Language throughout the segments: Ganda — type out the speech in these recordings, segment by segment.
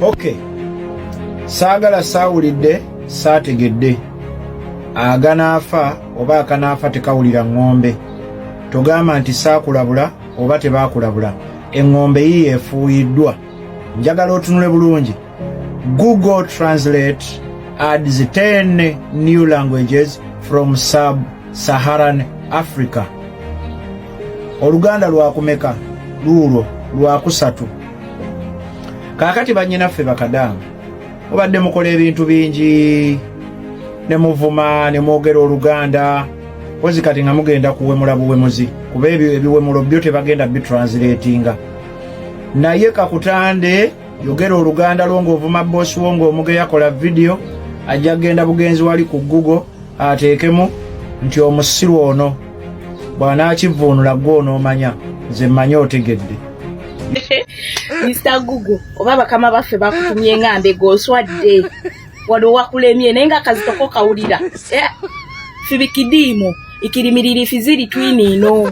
Okay. Saagala saawulidde saategedde aganaafa oba akanaafa tekawulira ŋŋombe togamba nti saakulabula oba tebaakulabula eŋŋombe yiyo efuuyiddwa njagala otunule bulungi google translate adds 10 new languages from sub saharan africa oluganda lwakumeka luulwo lwakusatu kaakati bannyinaffe bakadaama mubadde mukola ebintu bingi ne muvuma ne mwogera oluganda kozi kati nga mugenda kuwemula buwemuzi kuba ebyo ebiwemulo byo tebagenda bitranslatinga naye kakutande yogera oluganda lwo ng'ovuma bosi wo ng'omugeya kola vidiyo ajja kugenda bugenzi wali ku google ateekemu nti omusiru ono bw'anaakivuunula gwe onoomanya nze mmanyi otegedde mr google oba bakama baffe bakutumye nga mbega oswadde wano wakulemye naye nga kazitoko kawulira eh, fibikidiimo ikirimiriri fiziri twiniino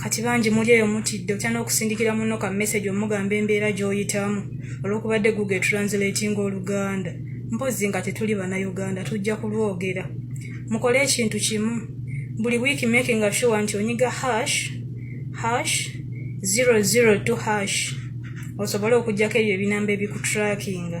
kati bangi muli eyo mutidde otya n'okusindikira munno ka message omugamba embeera gy'oyitamu olw'okubadde google translate nga oluganda mpozi nga tetuli bannayuganda tujja kulwogera mukole ekintu kimu buli wiiki making sure nti onyiga hash hash 002 hash osobole okugyako ebyo ebinamba ebikutrakinga